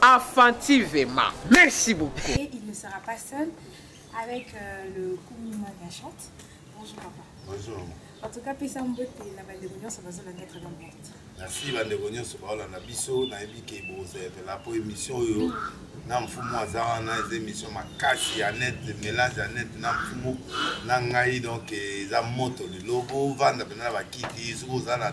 Afantivema. Merci beaucoup. Et il ne sera pas seul avec euh, le Kumima Gachante. Bonjour papa. Bonjour. En tout cas, pesa mbote na bandeko nyonso bazolanda très bien porte. Merci bandeko nyonso baolanda biso nayebi ke bozela mpo émission oyo na mfumu aza wana eza émission makasi ya net mélange ya net na mfumu na ngai donc eza moto lelo bovanda mpena na bakiti soki oza na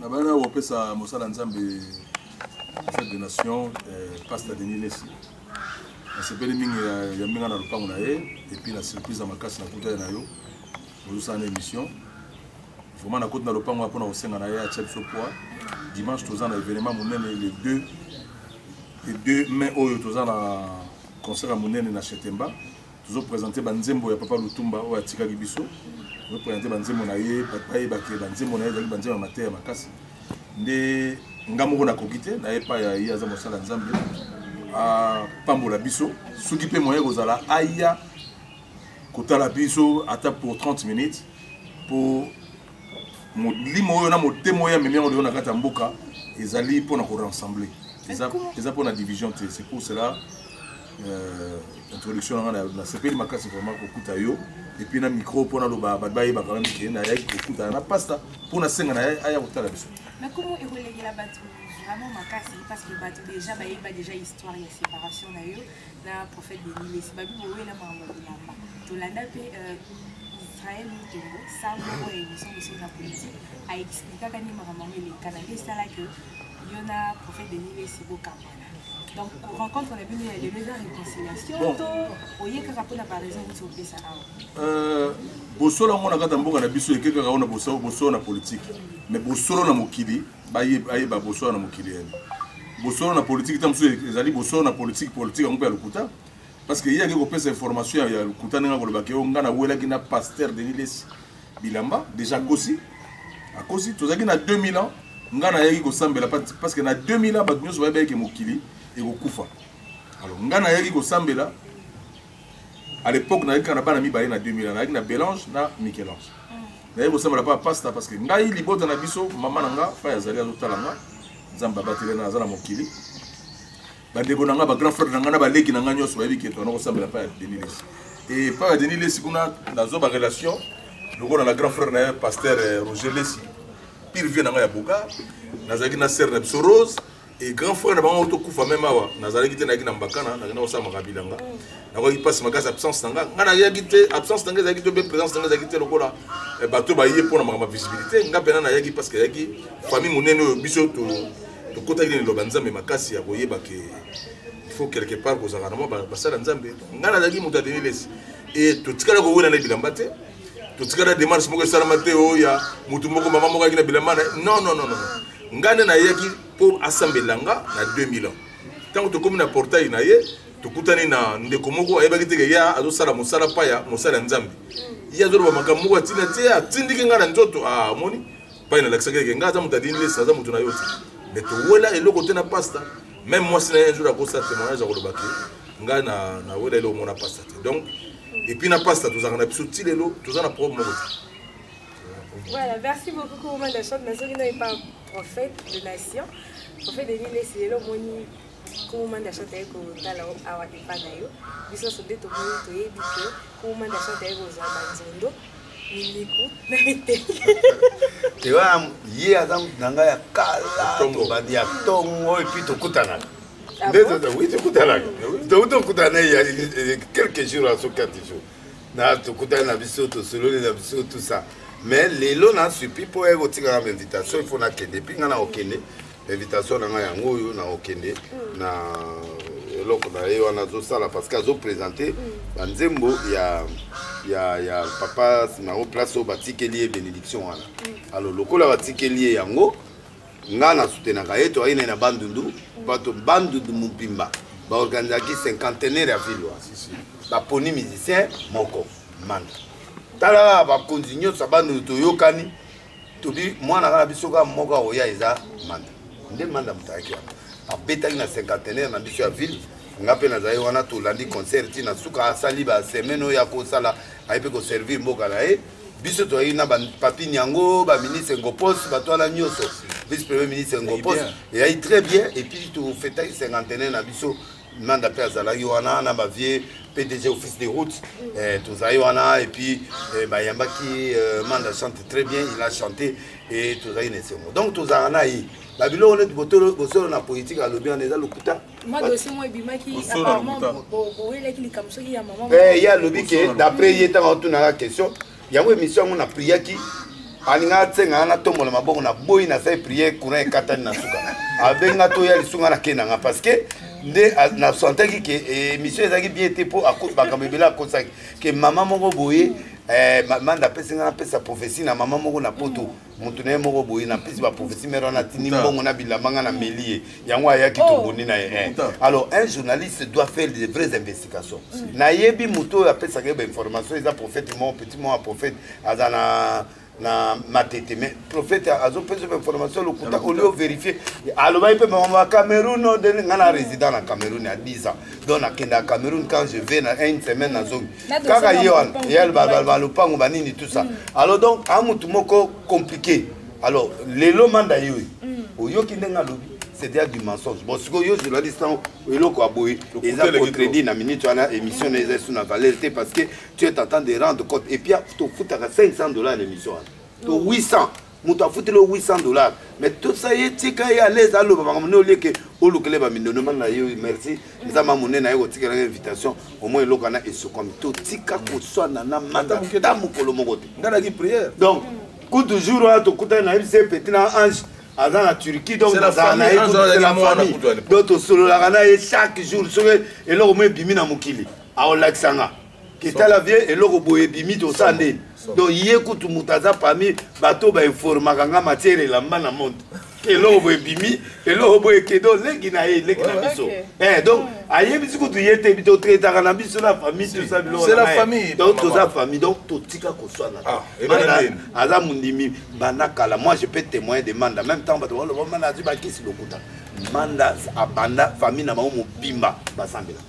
nabana kopesa mosala nzambe fete de nation eh, pasta denis lesi nasepeli mingi ya mbinga na lopango na ye epuis na surprise ya makasi nakutani na yo ozosala na émission vraiment nakoti na lopango mpona kosenga na ye atya biso poids dimanche toza na événement monene le 2 le 2 mai oyo toza na concert ya monene na chetemba tozo presente banzembo ya papa lutumba oyo atikaki biso tozo presente banzembo na ye bato bayebake banzembo na ye ezalaki banzembo ya mateya makasi nde nga moko nakoki te na epai ya ye aza mosala nzambe apambola biso soki mpe moyen kozala aya kotala biso ata pour 30 minutes mpo molimo oyo na motema oyo amemi yango lelo na kati ya mboka ezali mpo na korassembler eza mpo na division te c'est pour cela Euh, introduction na nga nasepeli makasi vraiment kokuta yo epuis na micro mpo naloba bato bayebaka meme ke nayaki kokutana na pasta mpo nasenga na ye aya kotala biso nakomo ekolengela bato vraiment makasi parce que bato déjà bayeba déjà histoire ya séparation na yo na prophète denilesi babi bowela makambo ya bilamba tolanda mpe euh, israel mutombo sango oyo émission mosusu na politique aexplikaka nde makambo yango elekana nde esalaki yo na prophète denilesi bokambana Donc, rencontre la bino ya lelo eza réconciliation bon. to oye kaka mpo na baraison nisi opesa awa euh, bosolo yango na kati ya mboka na biso eke kaka ona bosolo na politike mais bosolo na mokili ayeba bosolo na mokili yani bosolo na politike ta mosusu ezali bosolo na politike politike yango mpe ya lokuta parce que ye ake kopesa information ya lokuta ndenge akolobaka yo ngai nawelaki na pasteur denis lesi bilamba deja akosi akosi tozalaki na 2000 ans ngai nayaki kosambela parce que na 2000 ans bato nyonso bayebaki ke mokili ekokufa alors ngai nayaki kosambela à l'époque nayaki kaka na bana mibale na 2000 ans nayaki na belange na michel-ange nayaki kosambela mpa pasta parce que ngai libota na biso mama na ngai mpai azali azotala ngai nzambe abateli na aza na mokili bandeko na ngai ba grand frère na ngai na baleki na ngai nyonso bayebi keto anakosambela mpa ya denis lesi e mpa ya denis lesi kuna nazwa ba relation lokola na grand frère na ye pasteur eh, roger lesi pire vie na ngai ya boka nazalaki na sere na biso rose e grand frère na bango tokufa meme awa nazalaki te nayaki na mbakana nakenda kosala makabi na nga nakoki mpasi makasi absence na nga nga nayaki te absence na nga ezalaki te mpe présence na nga ezalaki te lokola eh, bato baye mpo na makambo ya visibilité nga mpena nayaki parce que ayaki famille monene oyo biso tokotaki na liloba nzambe makasi ya koyeba ke faut quelque part kozalaka na mwa basala nzambe ngai nazalaki moto ya denilesi e totikala kowela na bilamba te totikala demarche moko esalama te oyo oh, ya motu moko mama moko ayaki na bilamba na non non non non ngai nde nayaki mpo asambela nga na 2000 ans ntango tokomi na portail na ye tokutani na ndeko moko ayebaki teke ye azosala mosala paya mosala ya nzambe ye azoloba makambo moko atina te atindiki ngai na nzoto amoni ah, pai nalakisaki eke ngai aza moto ya linlesa aza moto na yo te mais towela eloko te na pasta même mwasi na ye un jour akosa témoignage akoloba ke ngai nawela eloko mona pasta te donc epuis na pasta tozalaka na biso ti lelo toza na problème moko te Voilà, merci beaucoup Kourou Mandachot. Nazoki na epa prophète de nation. Prophète de l'île, c'est l'homme Kuma nda shata ye kotala awa epa na yo biso nyonso nde tomoni toyebi ke kuma nda shata ye kozwa banzondo miniku na mitenge te wana ye aza moto na ngai ya kala tobandi ya ntongo epui tokutanaka ah nde oui tokutanaka tokuti tokutana na ye quelques jours aso quatre jours na tokutani na biso tosololi na biso tout ça mais lelo na supi mpo ye kotikaka ma invitation ifo nakende epui ngai na kokende invitation na ngai yango oyo na okende mm. na eloko na ye wana azosala parce que azopresente mm. banzembo ya, ya, ya papa simaro place oyo batikeli ye bénédiction wana mm. alors lokola batikeli ye yango ngai nasutenaka ye toyaki naye na bandundu bato bandundu mobimba baorganisaki cinquantenaire ya ville wana baponi musicien moko manda tala bakonzi nyonso ya bandundu toyokani tobi mwana kaka biso kaka moko akoya eza manda nde manda moto ayaki wana abetaki na cinquantenaire na biso ya ville nga mpe nazali wana tolandi concert ti na suka asali basemaine oyo akosala aye mpe koservir mboka na ye biso toyaki na bapapi nyango baministre ngopos bato wana nyonso vice premier ministre ngopos eyaki très bien epuis tofetaki cinquantenaire na biso nanda mpe azalaki wana na ba vieux pdg office de route eh, tozalaki wana et puis eh, bayambaki eh, manda chante très bien il a chanté et tozalaki na esengo donc tozalaka na ye babiloko neti bosolo na politike alobi wana eza lokuta ye alobi ke d'après ye ntango atunaka question yango emission yango na priaki alinga atsenga nga natombola maboko na boyi nasali priere courant ekatani na suka abenga toya lisunga na kei nanga parce que nde nasantaki ke eh, émission ezalaki bien te mpo makambo ebele akosaki ke mama moko boye eh, manda apesi nga napesa prophesie na mama moko na poto moto na ye moko boye na mpesi baprofesi mere wana atindi mbongo na bilamba nga na meli ye yango ayaki oh. tobondi na ye eh. alors un journaliste doit faire de vraies investigations mm. nayebi moto oyo apesaka ye bainformation eza prophète mo petit mo ya prophète aza na na matete mais prophète azopesa bainformation lokuta olio overifie alobaki mpe mama cameroun nga na résident na cameroun ya 10 ans donc nakendaka cameroun quand je vais na une semaine nazongi kaka ye wana ye balopango banini tout ça mm. alors donc a motu moko compliqué alors lelo manda ye oyo mm. oyoki ndenge alobi c'est déjà du mensonge bon sikoyo yo journaliste yango eloko ya boye eza contredit na minute wana émission na eza su na valeur te parce que tu es en train de rendre compte et puis tofutaka 500 dollars na émission wana to 800 moto afuteli yo 800 dollar mais tosa ye tika ye alaise aloba makambo nde olieke olukele bamindondo mani na yo merci nzambe ya monene aye kotikelaka invitation omoi eloko wana esukwami totika koswana na manda ta mokolo moko te ndalaki priere donc kutu jour wana tokutani na mc petit na ange aza na turquie donc nazala na ye kutela famille donc tosololaka na ye chaque jour soki eloko mo ebimi na mokili aolakisa nga ketala vie eloko boye ebimi tosa nde donc ye kutu moto aza parmi bato bainformaka nga matière elamba na monde eloko boye ebimi eloko boye kedo leki na ye leki na biso eh, donc hmm. ayebisi kutu ye te totretaka na biso na famille tosa bilokdonc toza famille donc totika koswana ah, aza mondimi banda kala moi je peux témoin de manda même temps bato baloba manda azwi bakisi lokuta manda abanda famille na bango mobimba basambela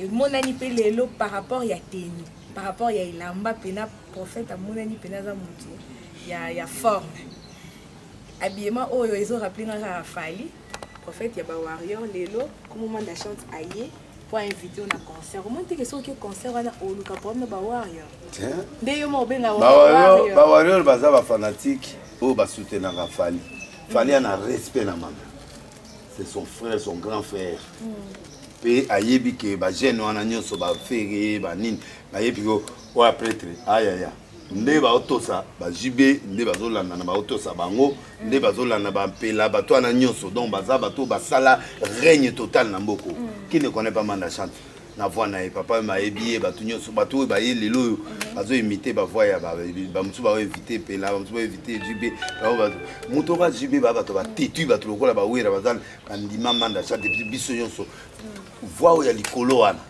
emonani mpe lelo par rapport ya teni par rapport ya elamba mpena prophète amonani mpena aza motu ya, ya forme habillement oyo ezoraple nga kaka fali prophète ya bawarrior lelo komoma nda chante aye mpo ainvite yo na concert omoni teke soki concert wana oluka problème na bawarrior nde yo ma obenga bawarrior baza bafanatike oyo basutenaka fali fali ana respect na mama c'est son frère son grand frère mpe mm. ayebi ke bagene wana nyonso bafere banini bayebi ko oyo apretre ayaya nde baotosa bajb nde bazolanda na baotosa bango nde bazolanda bampela bato wana nyonso donc baza bato basala règne total na mboko mm. qui ne connaît pas manda chante na voix na ye papa oyo bayebi ye bato nyonso bato oyo baye lelo oyo bazo imite bavoix ya bamosusu bao evite mpela bamosusu bao evite jb moto oka jb baa bato batetui bato lokola bawera baza bandima manda cha depuis biso nyonso voix oyo ya likolo wana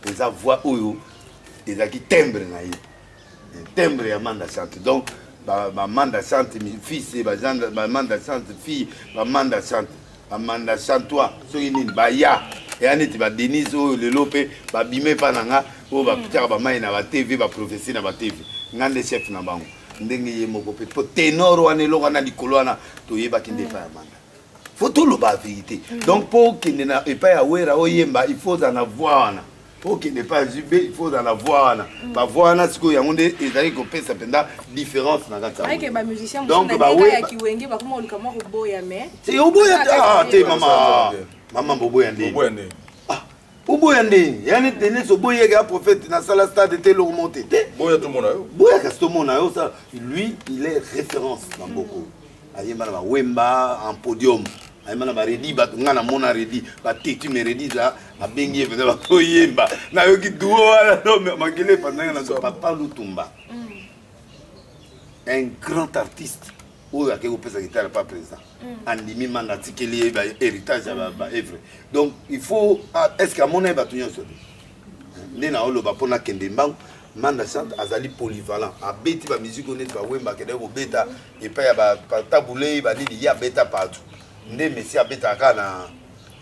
eza voix oyo ezalaki timbre na ye timbre ya manda sante donc bamanda sante fils bamanda sante fille bamanda sante bamanda santoi soki nini baya eya neti badenise oyo lelo mpe babima epa na nga oyo bapitaka bamai na batv baprofesi na batv nga nde chef na bango ndenge ye moko mpe mpo tenor wana eloko wana likolo wana toyebaki nde epa ya manda fo toloba verité donc mpo okende na epai ya wera oyemba il faut ozala na voi wana mpo okende epai ya jb il faut ozala na voi wana mm. bavoi wana sikoyo yango nde ezali kopesa mpenza différence na kati oboya ah, te mama mama boboya nde ah, oboya nde yani denis oboyeke ya prophète nasala stade te eloko mo te te boyaka sitomona yo lui il est référence na mboko mm. ayemba na ba wemba en podium ayemba na ba redi bato ngai namona redi bateti me redi za abengi ye mpenza bakoyemba nayoki duo wana no makele epandanga na papa lutumba mm. un grand artiste oyo akei kopesa gitare pa président mm. andimi manga atikeli ye bahéritage ya baevre donc il faut ah, est ce que amona ye bato nyonso te nde naoloba mpo nakende mbangu manda chante azali polyvalent abeti bamusike oyo neti bawemba akendaki kobeta epai ya batabulei banini ye abeta partout nde messi abetaka kaka na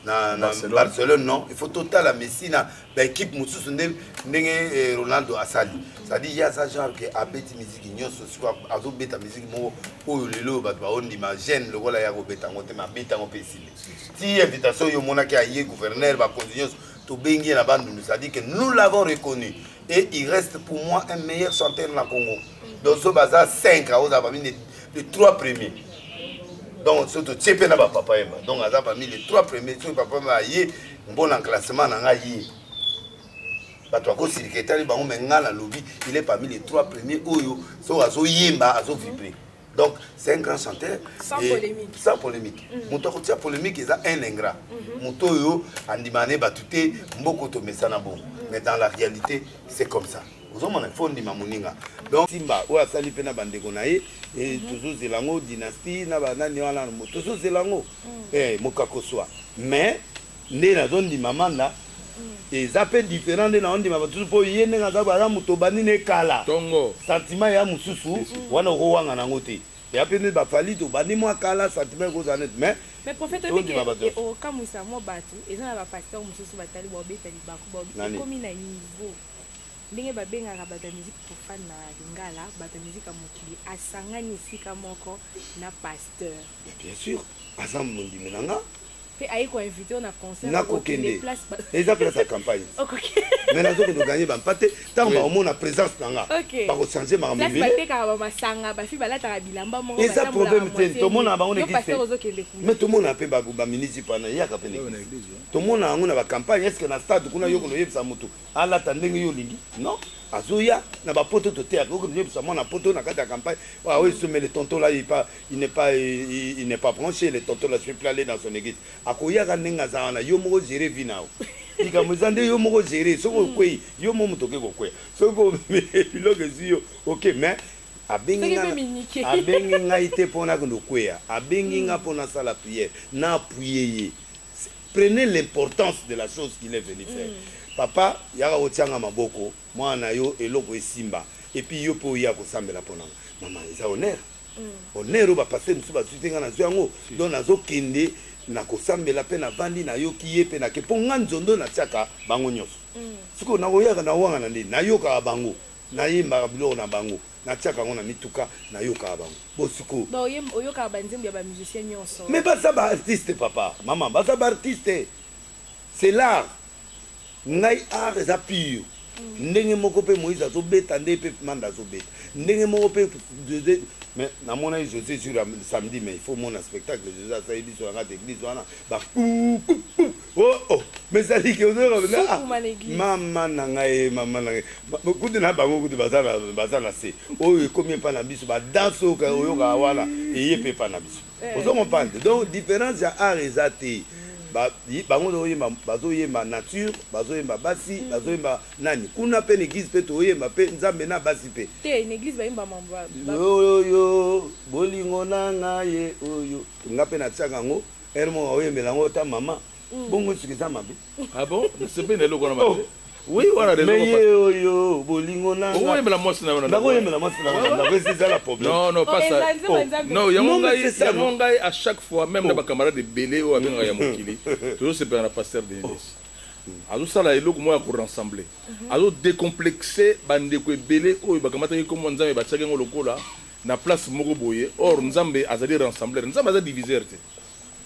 na, na barcelone. barcelone non il faut totala messi na baekipe mosusu nde ndenge eh, ronaldo asali cestadire ye aza genre ke abeti miziki nyonso sikoyo azobeta miziki moko oyo lelo oyo bato baondima gene lokola ye akobeta yango te me abeta yango mpe esili ti invitation oyo omonaki aye gouverneur bakonzi nyonso tobengi ye na bandundu cestadire ke nous l'avons reconnu et il reste pour moi un meilleur chanteur na congo donc so baza 5 akozala parmi les 3 premiers donc so totie mpe na bapapa yemba donc aza parmi les 3 premiers soki papa yemba aye mpo na classement na ngai ye bato bakosilika etali bango me ngai nalobi il est parmi les 3 premiers oyo soki azoyemba azovibre donc c'est un grand chanteur sans et, polémique sans polémique mm. moto akotia polémique eza un ingrat mhm. moto oyo andimana ne bato te mboko tomesana bongo mm. mais dans la réalité c'est comme ça ozomona fo ndima moninga donc simba oyo asali mpe na bandeko na ye mhm. tozozela yango dynastie na banani wana tozozela yango mm. eh, mokakoswa mais nde nazo ndima manda eza pe different nde nazo ndima batusu po ye ndenge aza aza moto obandi ne kala tongo sentiment ya mosusu wana okowanga nango te ya pe nde ba fali tobandi mwa kala sentiment ekozala neti mais mais prophète oyebi Tondima bato ke nyonso. okokamwisa mwa bato eza na bapasteur mosusu batali baobeta libaku baobi Nani? ekomi na niveau ndenge babengaka bato ya musique profane na lingala bato ya musique ya mokili asangani esika moko na pasteur bien sûr aza mondimi na nga Pe aye ko invite yo na concert na ko kende eza place ya campagne mais nazo kende gagner ba mpate tango ba omona presence na nga ba ko changer ma mobile place batekaka ba masanga ba fi balataka bilamba moko eza problème te to mona bango na kisi mais to mona pe ba ba ministre pana yaka pe na kisi to mona yango na ba campagne est ce que na stade kuna yo ko yebisa mutu alata ndenge yo lingi non azoya na bapoto toteyaka okoyebisa mwana poto na kati ya campagne oyo esomele tontola ye pa Il n'est pas il n'est pas branche le tonton là je peux aller dans son eglise akoyaka ndenge aza wana yo moko gere vie nao likambo eza nde yo moko gere soki hmm. okwei yo moko moto oke kokwea soki biloko ezwi yo oke mais abengi ngai te mpo nakende okweya abengi hmm. ngai mpo nasala priere na apuye ye prenez l'importance de la chose qu'il est venu faire mm. papa yaka kotianga maboko mwana na yo eloko esimba epuis yo mpe oya kosambela mpo nanga mama eza honneur Honneur oyo ba pasteurs mosusu bazwi te, ngai nazwi yango. Donc nazokende nakosambela mpe navandi nayoki ye mpe nake mpo ngai nzondo natiaka bango nyonso. Sikoyo nakoyaka nawangana nde? Nayokaka bango, nayembaka biloko na bango, natiaka yango na mituka, nayokaka bango. Bon sikoyo. Donc oyemb, oyokaka ba nzembo ya ba musiciens nyonso? Mais baza ba artistes papa, maman, baza ba artistes. C'est l'art. Ngai art eza pure ndenge moko mpe moïse azobeta ndenge mpe manda azobeta ndenge moko mpe jose mais namonaki jose jour ya samedi mais il faut mona spectacle jose asali biso na kati église wana ba oh, oh. mais ezaliki ah, mama na ngai mama na ngai kutu na bango kutu baza na se oyo ekomi epa na biso badanse oyo oyokaka wana eye mpe epa na biso Ozo comprendre donc difference ya art eza te ba bango ozo yemba bazo yemba nature bazo yemba basi bazo yemba nani kuna pe na eglise pe to yemba pe nzambe na basi pe te na eglise ba yemba mamba oyo yo bolingo na nga ye oyo nga pe na tiaka ngo ermo oyembela ngo ta mama mm. bongo suki za mabe Ah bon Nasepeli na eloko wana mabe. Oh. Oui, wana raison. Mais ye oyo bolingo na. Oyo yemela mwasi na wana. Ndako yemela mwasi na wana. Ndako esi zala problème. Non non pas ça. Oh, oh. Non, yango ngai yango ngai à chaque fois même na ba camarades ebele oyo abenga ya mokili. Tozo sepela na pasteur Denis. azosala eloko moko ya korassembler mhm. azodecomplexe bandeko ebele oyo bakamataki nkombo nzambe batiaki yango lokola na place moko boye or nzambe azali rassembler nzambe aza diviseur te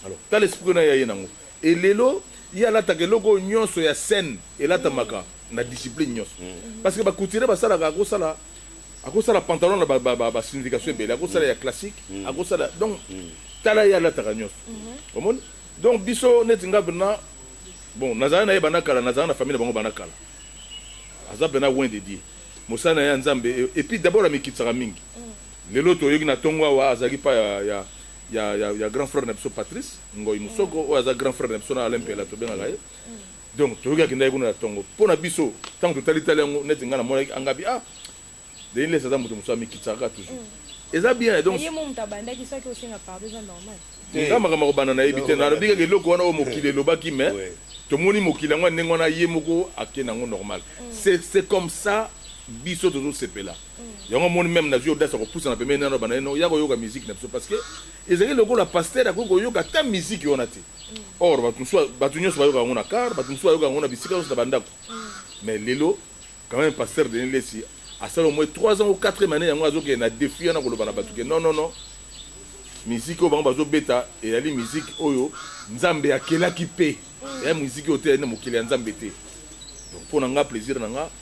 alors tala esprit na ye aye nango Et lelo ye alataka eloko oyo nionso ya scène elatamaka na discipline nionso parce que ba couturiers basalaka akosala akosala pantalon na ba ba ba signification ebele akosala ya classique akosala donc tala ye alataka nionso omoni donc biso neti nga pena bon nazala na ye banda kala nazala na famille na bango banda kala aza pena loin de Dieu mosala na ye ya Nzambe et puis d'abord amikitisaka mingi lelo toyoki na tongo awa azalaki pa ya, ya ya, ya, ya grand frère na biso Patrice Ngoy Musoko oyo aza grand frère na biso na Alain Pela tobengaka ye donc toyoki akendaki kuna na tongo mpo na biso ntango totali tali yango neti ngai namonaki angabi ah Denis Lessi aza moto mosusu amikitisaka toujours mm. eza bien donc ye moto abandaki soki osenga pardon eza normal nga makambo akobanda nayebi te nalobi kaka eloko wana oyo mokili elobaki mais tomoni mokili yango ndenge wana ye moko akenda yango normal mm. c'est comme ça biso tozosepela yango omoni meme nazwi audace ya kopusana pembeni nano banda eno ya koyoka miziki na biso parce que ezali lokola pasteur akoki koyoka ata miziki wana te or bato mosusu bato nyonso bayoka yango na car bato mosusu bayoka yango na bisika nyonso na bandako mais lelo quand même pasteur denis lesi asala au moins 3 ans ou 4 année yango azokende na défi wana koloba na bato ke non non non miziki oyo bango bazobeta ezali miziki oyo nzambe akelaki mpe eya miziki oyo te ezali na mokili ya nzambe te donc mpo na nga plaisir na nga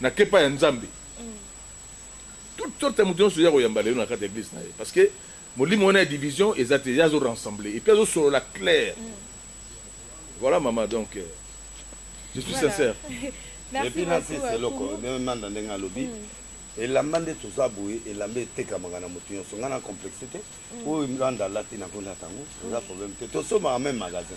Na kepa ya nzambe toute sorte ya mutu nionso ya koyamba lelo na kati ya eglise na ye parce que molimo wana ya division eza te ye azo rassembler et puis azo solola clair voilà mama donc euh, je suis voilà. sincère et puis na fils eloko manda ndenge alobi mm. elamba nde toza boye elamba etekamaka na moto nyonso ngai na complexe te mm. oyo landa alati nakolata yango eza problème te tosomaka meme magasin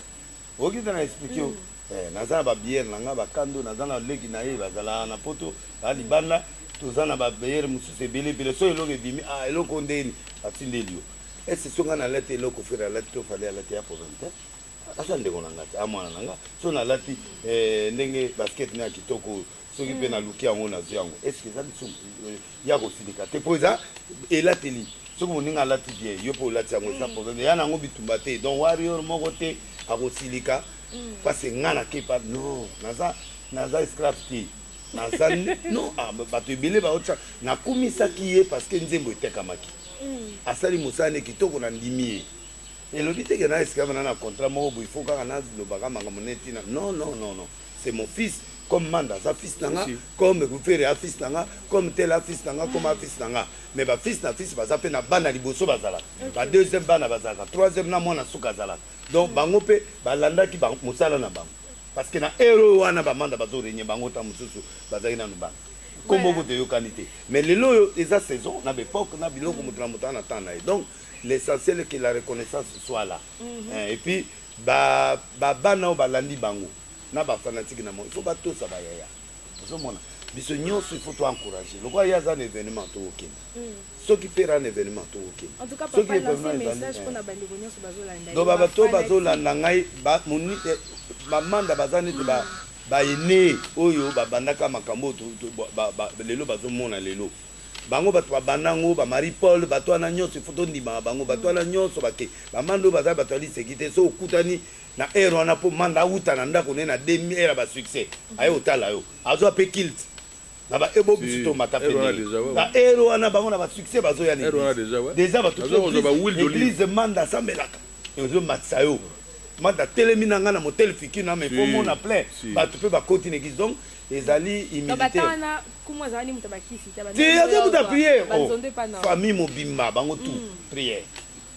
Oki te na expliquer yo. Eh, naza na ba bière na nga ba kando, naza na leki na ye bazala na poto, ba libanda, toza na ba bière mosusu ebele ebele. So eloko ebimi, ah eloko ndeni atindeli yo. Ese so nga na lati eloko fere alati to fale alati ya problème te. Asa ndeko na nga te, a mwana na nga. So na lati eh, ndenge basket na ya kitoko soki mpe naluki yango nazwi yango eske eza lisumu euh, ya kosilika te mpo eza elateli soki moninga alati bien yo mpe olati yango eza problème ya na yango bitumba te donc warrior moko te akosilika mpasi mm. nga nakepa non naza naza esclave te naza non ah, bato ebele baotya nakumisaki ye parce que nzembo etekamaki mm. asali mosala nde kitoko nandimi ye elobi teke na esclave na na contrat moko boye fo kaka nalobaka makambo neti na non non non non c'est mon fils comme manda aza fils na nga comme gufere a fils na nga comme tel a fils na nga comme a fils na nga mais ba fils na fils baza mpe na bana liboso bazalaka ba deuxième bana bazalaka troisième na mwana suka azalaka donc bango mpe balandaki mosala na bango parce que na heure oyo wana bamanda bazorenye bango ntango mosusu bazalaki nanu bana nkombo kutu eyokani te mais lelo oyo eza saison na baepoque na biloko moto na moto ana ntango na ye donc l'essentiel que la reconnaissance soit là eh, et puis ba ba bana oyo balandi bango na ba fanatique na il faut batosa ba yaya ozomona biso nyonso il faut to encourager lokola ye aza na événement tokokende mm. soki pere ana événement tokokende soki événementdo bato bazolanda ngai eh, bamanda baza neti bayenee oyo babandaka makambo oyo lelo bazomona lelo Bango batu ba banda yango ba Marie Paul batu wana nionso il faut to ndimaka bango batu wana nionso ba ke ba manda oyo baza batu ya liseki te soki okutani na heure wana po manda awuta na ndako ne na 2000 heure ba succès aye otala yo azwa pe kilt na ba ebo bisu to mata pe na heure wana bango na ba succès bazo ya ne deja batu eglise manda sambelaka ezo matisa yo manda telemi na nga na motel fiki na me po mona plein batu pe bakoti na eglise donc ezali humilité aza prière oh, famille mobimba bango tout mm. prière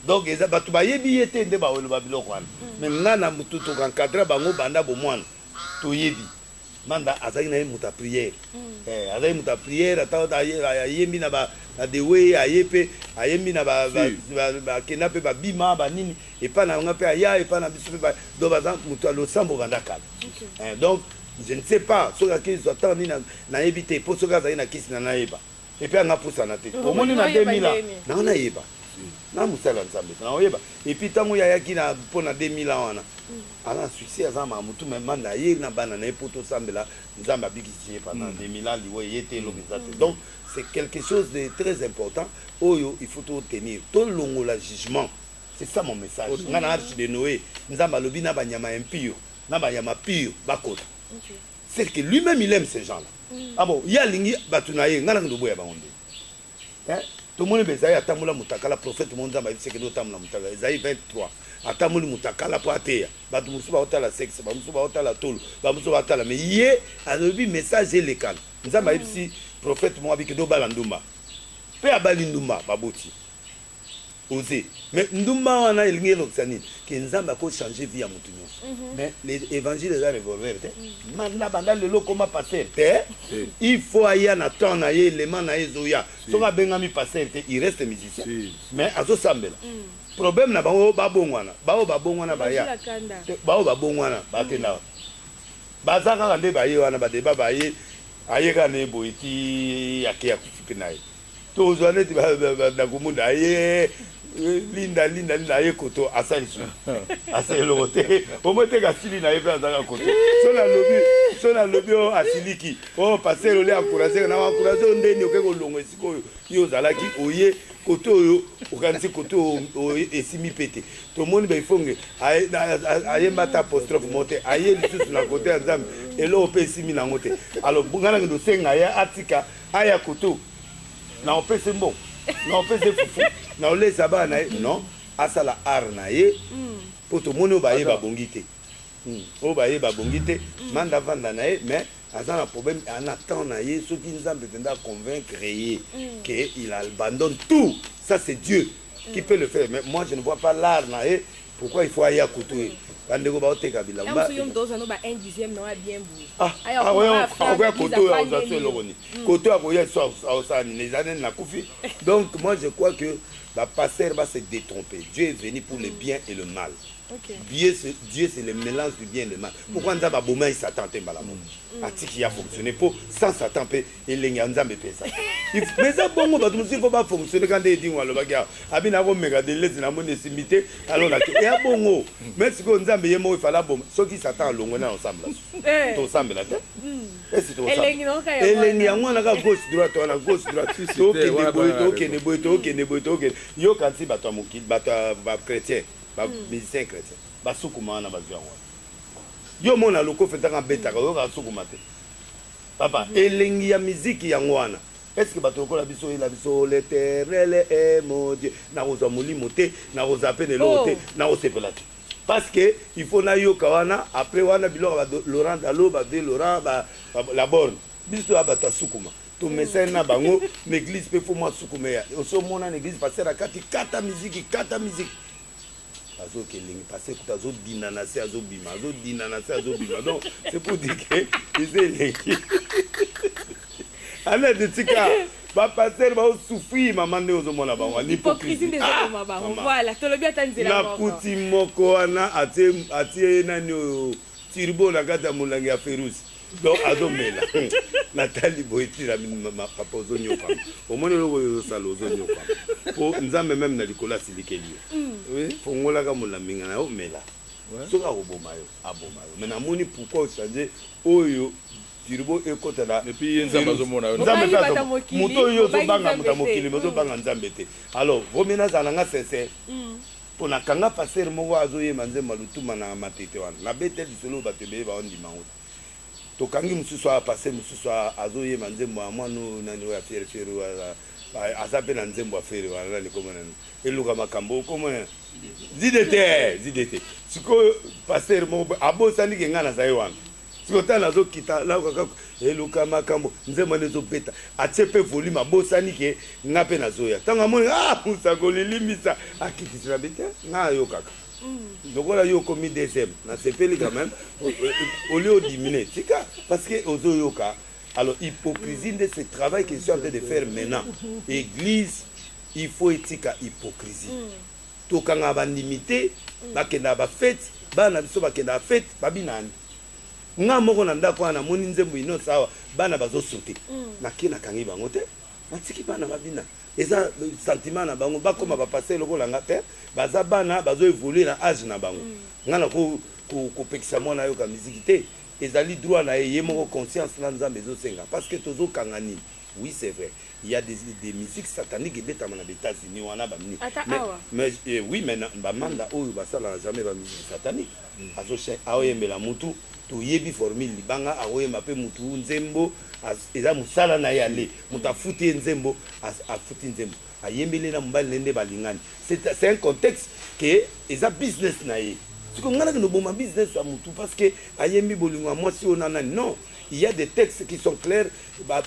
donc eza bato bayebi ye te nde baoloba biloko wana mm. mais ngai na motu tokankadra bango banda bomwana toyebi manda azalaki na ye moto ya prière mm. eh, azalaki moto ya prière ata ayembi na badewe aye mpe ayembi na bakenda mpe babima banini epai na nga mpe aya epai na biso mpe do baza moto ya losambo banda kala eh, donc Je ne sais pas soki akezwa temps nini nayebi te po soki azali na kisi na nayeba epe anga pusana te omoni na 2000 ans nanga nayeba na mosala ya nzambe naoyeba epuis ntango ye ayaki na mpo na 2000 ans wana aza na succès aza na motu mema na ye na bana na ye mpo tosambela nzambe abikisi ye pendant 2000 ans liwa eye te elobi eza te donc c'est quelque chose de très important oyo il faut totenir tolongola jugement c'est ça mon message nga na arche de noé nzambe alobi na banyama impure na ba ya ma pure bakota c'est que lui même il aime ces gens là mm. ah bon ye alingi bato na ye ngai nakende oboya bango nde eh? tomoni mpe ezali atambola motakala prophète mo nzambe ayebisi ekende otambola motakala ezali 23 atamboli motakala mpo ateya bato mosusu baotala sexe bamosusu baotala tolo bamosusu baotala me ye alobi message elekana nzambe ayebisi prophète mo abikende obala ndumba mpe abali ndumba baboti Oze mais ndumba wana elingi elokisa nini ke nzambe ako changer vie ya mutu nyonso mhm. mais l'evangile eza revolver te manda banda lelo koma passer te il faut aya na temps na ye elema na ye ezoya soki abengami passer te il reste musicien mais azosambela mm. problème na bango babongwana baoyo babongwana baya baoyo babongwana bakenda mm. baza kaka nde baye wana badeba baye aye kaka na ye boye ti ake ya kufi mpe na ye tozwa neti nakomona aye linda linda linda aye koto asali su asali eloko te omoteka asili na ye mpe azalaka koto so nalobi so nalobi o oh, asiliki o oh, pasere ole ankourageka na ankourage oyo ndeni oke kolongo esika oyo yo ozalaki oye koto oyo okanisi koto oyo esimi mpe te tomoni baifonge ayemba ata apostrophe mo te aye lisusu na kote ya nzambe eloko mpe esimi nango te alors ngai nange ndosenga ye atika Aya koto na opese mbongo na opese fufu na olesa bana na ye non asala art na ye mpo hmm. tomoni oyo baye babongi te hmm. oyo baye babongi te hmm. manda vanda na ye mais aza na problème ana temps na ye soki nzambe mpenza aconvaincre ye ke il abandonne tout ça c'est dieu qui peut le faire mais moi je ne vois pas l'art na ye pourquoi il faut aya kutu ye bandeko baoteka bilamusu yo moto ozwa no ba 1 dixième na oya bien boye ah, ah, akoya koto oyo akozwa so eloko nini mm. koto akoya so aosala nini eza nini nakufi donc moi je crois que bapasteur va se détromper dieu est venu pour le mm. bien et le mal Okay. Dieu, c'est, Dieu, c'est le mélange du bien et du mal. Pourquoi nous avons aboumé Satan, Tembala, mm. Atiki a fonctionné pour sans Satan, elengi ya nzambe mpeza mais eza bongo bato mosusu fo bafonctionne kanda edingo alobaki awa abi na komeka delese na moni esimbi te alo na eya bongo mais sikoyo nzambe ye moko efala boma soki satan alongwe na osambela eh. tosambela te hmm. esi toelengi yango wana kaka gauche droite wana gauche droite tokende boye tokende boye tokende boye tokende yoka nsi bato ya mokili bato ya bachrétien bamusicien hmm. chrétien basukuma wana bazwi yango wana yo omona lokofe ntaka abetaka oyoka asukuma te Papa elengi ya miziki yango wana esque bato lokola biso oyela biso leterele emodie nakozwa molimo te nakozala pe na eloko te nakosepela te parce que il faut nayoka wana après wana biloko ba Laurent Dalo ba vie Laurent ba la borne biso ya bato ya sukuma tomesani na bango na eglise pe faut mwa sukuma ya osi omona na eglise pasteur akati kata miziki kata miziki azo kelingi parce que azo dina na se azo bima azo dina na se azo bima donc c'est pour dire que eza eleki ana de tika ba pasteur ba souffrir maman nde ozo mona bango ni hypocrisie nde ezo mona bango ah, voilà tolobi ata nzela moko na kuti moko wana atie atie nani oyo turbo na kati ya molangi ya ferusi donc azomela natali boye tila papa ozonyokama omoni eloko oyo ozosala ozonyokama mpo nzambe meme na likolo asilikeli yo mm. fongolaka molaminga na yo omela soki akoboma yo aboma yo me namoni pourkoi ochange oyo turbo ekota na moto oyo ozobanga moto ya mokili me ozobanga nzambe te alors vomi nazala na nga sincere mm. Po na kanga pasteur moko azo yemba nzembo ya lutumba na matete wana na betel lisolo oyo batu ebele bao ndima yango te to kangi mususu awa pasteur mususu awa azo yemba nzembo ya mwana oyo nani oyo ya fiere fiere oyo aza aza pe na nzembo ya fiere wana nani kombo na eluka makambo kombo na zide te zide te sikoyo pasteur moko abosani ke ngai naza ye wana Sikoyo tala azo kita na kaka eluka makambo nzembo wana ezo beta atie pe volume abosani ke nga pe nazo ya tango amoni ah musakoli limbisa akitisi na bete nga ayokaka mm. lokola yo okomi deuxième na sepeli quand même au lieu odimine tika parce que ozo yoka alors hypocrisie nde ce travail que je suis en train de faire maintenant église il faut etika hypocrisie mm. Tokangaka ba ndimi te bakendaka ba fete bana na biso bakendaka fete ba bina nde nga moko na ndako wana namoni nzembo inoss awa bana bazo sote na ke na kangi bango te na tiki bana ba bina eza sentiment na bango bakoma ba pasteur lokola nga te baza bana bazo evoluer na age na bango nga na ko ko pekisa mwana ayoka musique te ezali droit na ye ye moko conscience na nzambe ezo senga parce que tozo kanga nini Oui c'est vrai il ya des des musique satanique ebetama na ba etats unis wana ba mini ata awa mais eh, oui mais ba manda oyo basala na jamais ba musique satanique mm. azo chen aoyembela mutu toyebi formule libanga akoyemba mpe mutu nzembo eza mosala na ye ale moto afuti ye nzembo afuti nzembo ayembeli na mobali nende balingani c'est un contexte ke eza business na ye siko ngai nake noboma business ya mutu parce que ayembi bolingo ya mwasi oyo na nani non Il ya des textes qui sont clairs ba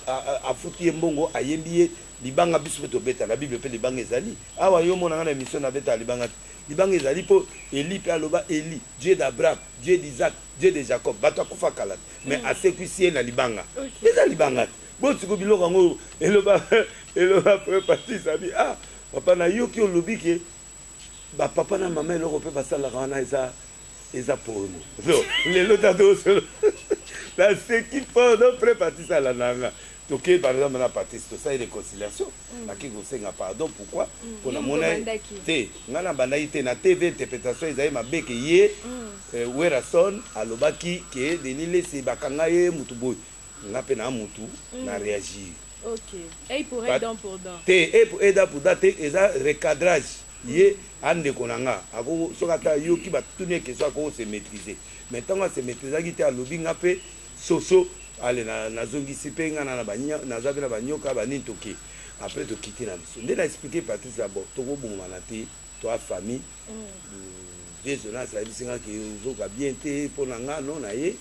afuti ye mbongo ayembi ye libanga biso pe tobeta na bible pe libanga ezali awa yo omona nga na emission na beta libanga te libanga ezali po Eli pe aloba Eli Dieu d'Abraham Dieu d'Isaac Dieu de Jacob bato akufa kala te mais mm. asekwisi ye na libanga eza libanga te bo siko biloko yango eloba eloba pe patisa bi ah papa nayoki olobi ke Ba papa na mama eloko pe basalaka wana eza eza porno so lelo tatosolo naseki fort no pre parti sala nanga toke par exemple na patisi tosali réconciliation mm. naki kosenga pardon pourquoi mm. mpo namona te ngai nabandaki te na tv interprétation ezali mabe ke ye mm. eh, werason alobaki ke denis lesi bakanga ye motu boye nga mpe na mutu na reagir te eda pour da te eza recadrage ye andeko na nga soki ata yoki batuni ye question akoko se maîtrise mais ntango ase maîtrisaki te alobi nga mpe soso ale nazongisi mpe nga naza mpe na banyoka banini toke après tokiti na biso nde na explike patrice abo tokobongwana te toa famille mm. vieux jonas ayebisi nga ke ozoka bien te mpo na nga no na ye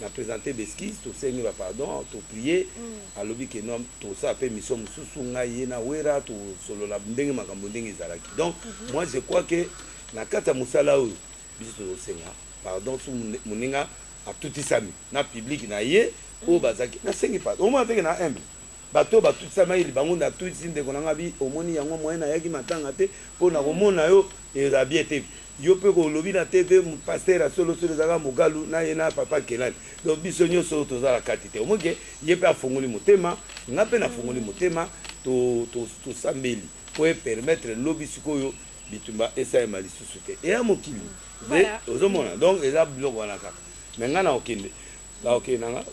na presente beskise tosengi ba pardon toprie mm. alobi ke no tosala mpe mission mosusu ngai ye na wera tosolola ndenge makambo ndenge ezalaki donc mm -hmm. moi je crois ke na kati ya mosala oyo biso tozosenga pardon su moninga atutisami na publike na ye oyo mm. bazalaki nasengi pardon omona teke na humble Bato oyo batutisa mail bango nde atutisi ndeko nanga bi omoni yango moyen nayaki matanga te po na komona yo eza bien te yo pe ko olobi na TV pasteur ya solo solo eza kaka mugalu na ye na papa kelani donc biso nioso oyo toza na kati te omoni ke ye pe afongoli motema nga pe na fongoli motema to to to sambeli po e permettre lobi sikoyo bitumba esalema lisusu te eya mokili nde ozomona donc eza biloko wana kaka me nga na kokende na kokende nanga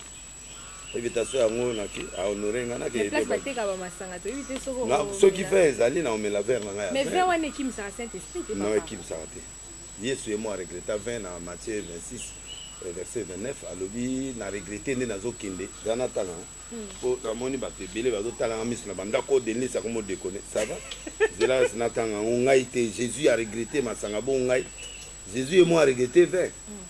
invitation yango naki a honore nga naki mais place bateka ba masanga to yite soko na soki vin ezali na omela verre na ngai mais vin wana ekim sa saint esprit te non ekim sa te yesu ye mo a regretta vin na Matthieu 26 euh, verset 29 alobi na regrette nde nazokende za natala hmm. po namoni bato ebele bazotalanga miso na bandako denise akomi odekone sava zela natanga yango ngai te jésus a regrette masanga bo ngai jésus ye mo a regrette vin hmm.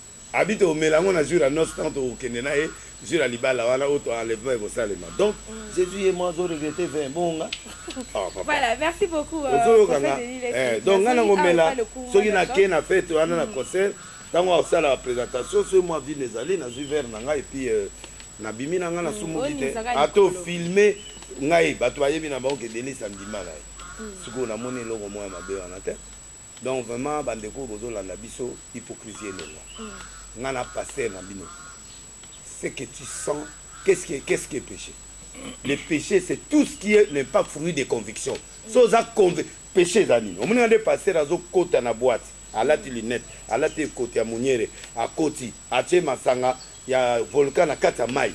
Abi toko mela yango na jour ya noce tango toko kende na ye jour ya libala wana ou to enlèvement eko salema donc Jesus ye moko azo regretter vin bongo nga oh papa voilà merci beaucoup euh, ozo yoka nga eh donc nga na ko mela soki na ke na fête wana na mm. concert tango akosala présentation soki moi vin ezali na zui verre na nga et puis euh, na bimi na nga na mm, sumuki te ato filmer ngai bato bayebi na bango ke denis andima na ye mm. sikoyo namoni eloko moko ya mabe wana te Donc vraiment ba ndeko oyo bozo landa biso hypocrisie elongwa nga na pasteur na bino ce que tu sens qu'est-ce qui est qu'est-ce qui est péché le péché c'est tout ce qui est n'est pas fruit de conviction so oza conv péché eza nini omoni nga nde pasteur azo kota na boîte alati lunette alati ekoti ya moniere akoti atie masanga ya volcan na kati ya mai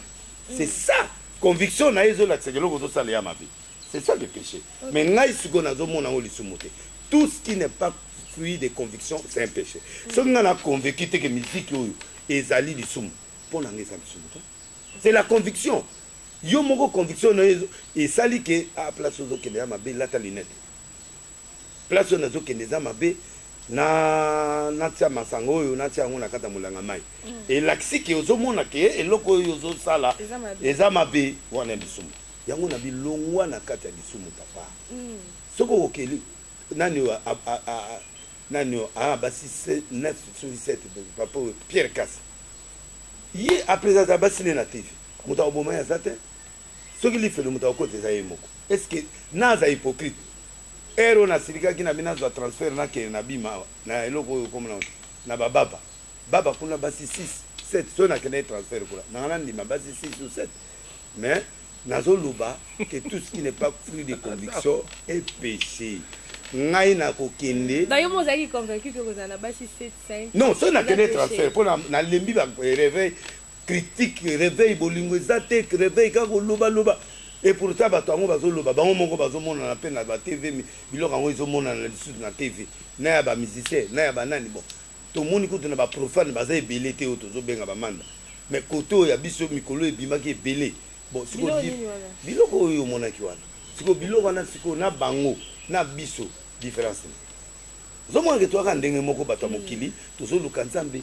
c'est ça conviction na ye ezolakisa eloko ozosala ya mabe c'est ça le péché mais ngai sikoyo nazomona yango lisumu te tout ce qui n'est pas fruit de conviction c'est un péché soki ngai na convaincu te ke miziki oyo ezali lisumu mpo na ngai eza lisumu te c'est la conviction yo moko conviction na yo esali ke a ah, place ozokende ya mabe lata lunette Place oyo nazo kende eza mabe na natia masanga oyo natia yango na kata molanga mai mm. elakisi ke ozomona ke eloko oyo ozosala eza mabe wana ya lisumu yango na bilongwa na kati ya lisumu papa mm. soki okokeli nani oyo nani oyo ah, basi 9 soki 7 papa oyo pierre kasi ye apres aza basi ne na tv moto akoboma ye aza te Soki lifelo moto akokota eza ye moko est ce que naza hypocrite? Heure oyo nasilikaki na bino nazwa transfert nakende na bima awa na eloko oyo kombo nango te na ba baba baba kuna basi 6 7 soki nakendaki transfert kuna nanga nandima basi 6 ou 7 mais nazo loba que tout ce qui n'est pas fruit de conviction est peche ngai nakokende Ba yo mo ozalaki convaincu que kozala na basi 7 5 non soki nakendaki transfert mpo nalembi ba eh, reveil critique reveil bolingo eza te reveil kaka koloba loba et pourtant bato yango bazoloba bango moko bazomonana mpe na ba tv mais biloko yango ezomonana na lisusu na tv na ya bamusicien na ya banani bon tomoni kutu na baprofane baza ebele te oyo tozobenga bamanda mais kote oyo ya biso mikolo ebimaki ebele bon siko biloko oyo omonaki wana siko biloko wana siko na bango na biso difference ozomonake toyaka ndenge moko bato ya mokili tozoluka nzambe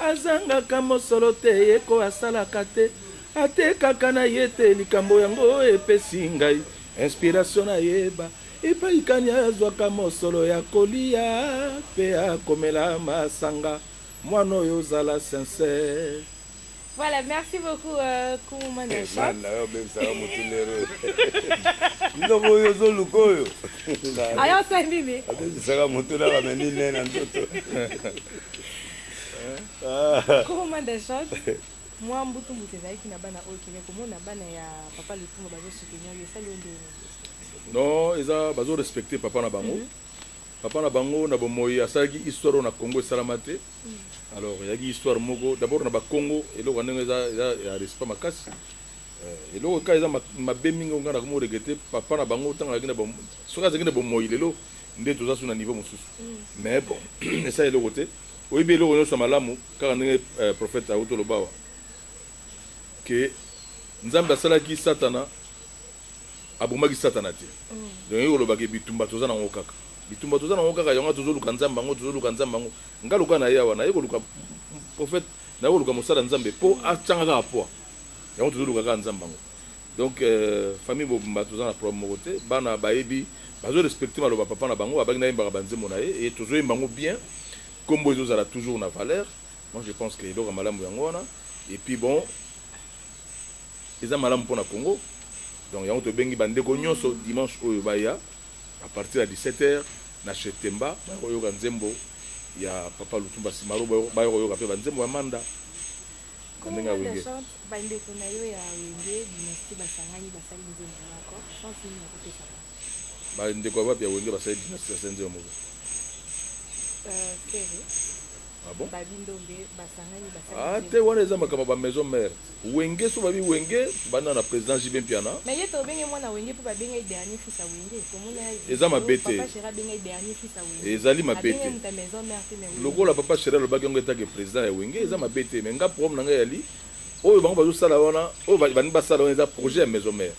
Azangaka mosolo te ye ko asalaka te atekaka na ye te likambo yango epesi ngai inspiration na yeba epai kani azwaka mosolo ya koliya pe ya komela masanga mwana oyo zala sincère. Voilà, merci beaucoup euh, Kumuma na chef. Nanda yo bebisa yo mutu lero. Ndobo yo zo lukoyo. Aya sa nini? Abebisa ka mutu na ba meni ne na ndoto. Kumuma na chef. Mwa mbutu mbutu ezalaki na bana oyo kende komona bana ya papa Lufungo bazo soutenir yo esali yo ndenge nini? Non, eza bazo respecter papa na bango. Mm -hmm. Papa na bango na bomoyi asalaki histoire oyo na Congo esalama te. Alors eyaki histoire moko d'abord na ba Kongo eloko ya ndenge eza eza ya respect makasi. Eh, eloko kaka eza ma- mabe mingi oyo ngai nakomi regretter papa na bango ntango azalaki na bom- soki azalaki na bomoyi lelo nde toza su na niveau mosusu mais bon esala eloko te oyebi eloko nyonso ya malamu kaka ndenge eh, prophète auti olobawa ke nzambe asalaki satana Abomaki satana te donc olingi koloba ke bitumba toza na ngo kaka bitumba toza na ngo kaka yango tozo luka nzambe yango tozo luka nzambe yango nga lokola na ye awa na ye koluka prophète na ye koluka mosala nzambe po achanga kaka poa yango tozo luka kaka nzambe yango donc euh, famille bobumba toza na problème moko te bana bayebi bazo respecter maloba papa na bango abaki nayembaka banzembo na ye et tozo yemba yango bien kombo ezo zala toujours na valeur moi je pense que eloko malamu yango wana et puis bon Eza malamu pona Congo donc yango tobengi ba ndeko nionso dimanche oyo baya à partir ya 17 heures na chez Temba baya koyoka nzembo ya Papa Lutumba Simaro baya koyoka pe ba nzembo ya Manda na ndenge ya wenge. Ba ndeko na yo ya wenge dynastie basangani basali nzembo moko chance nini okopesa bango? Ba ndeko ya wapi ya wenge basali dynastie basali nzembo moko? Euh, Ferre. Ah bon? Babi Ndombe basangani basali. Ah te wana eza makambo ba maison mère. Wenge soba bi wenge banda na president JB Mpiana. Mais ye tobenge mwana wenge po babenga ye dernier fils ya wenge tomona ye eza mabe te papa cheri abenga ye dernier fils ya wenge ezali mabe te abenga ye muta maison mère te mais lokola papa cheri alobaki yango etake president ya wenge eza mabe te mais nga problème na nga yali oyo bango bazosala wana oyo balingi basala wana eza projet ya maison mère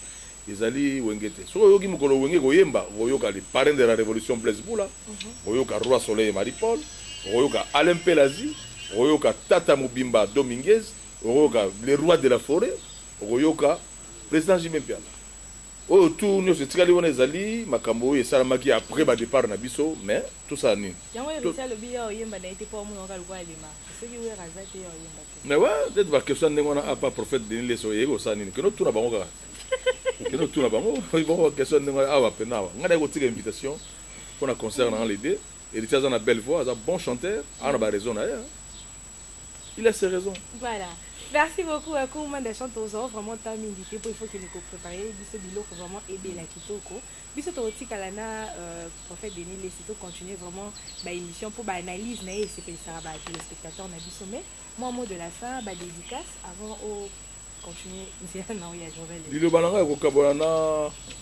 ezali wenge te soki oyoki mokolo wenge koyemba okoyoka le parrain de la révolution blaise bula mhm. okoyoka roi soleil marie paul okoyoka alain pelazi okoyoka tata mobimba dominguez Okoyoka le roi de la foret, okoyoka president JB Mpiana. Oyo tout nioso etikali wana ezali makambo oyo esalamaki après ba depart na biso mais tosala nini? Yango Heritier to... alobi yo oyemba na ye te po omona oka lokola alema. Soki Werra aza te yo oyemba te. Mais ouais, peut-être ba question ndenge wana apa prophète Denis Leso yeye osala nini? Kino tuna bango kaka. Kino tuna bango, bango question ndenge wana awa pena awa. Ngai na kotika invitation pona concert na les deux. Heritier aza na belle voix, aza bon chanteur, aza na ba raison na ye. Il a ses raisons. Voilà. Merci beaucoup à Kouma Dachan Tozo, vraiment ta mingi te, il faut que nous préparions biso biloko vraiment aider la kitoko. Biso to tika la na euh, prophète Denis les tout continuer vraiment ba émission pour ba analyse na et c'est ça ba téléspectateurs na biso mais moi mot de la fin ba dédicace avant au liloba na ngai ekokabola na,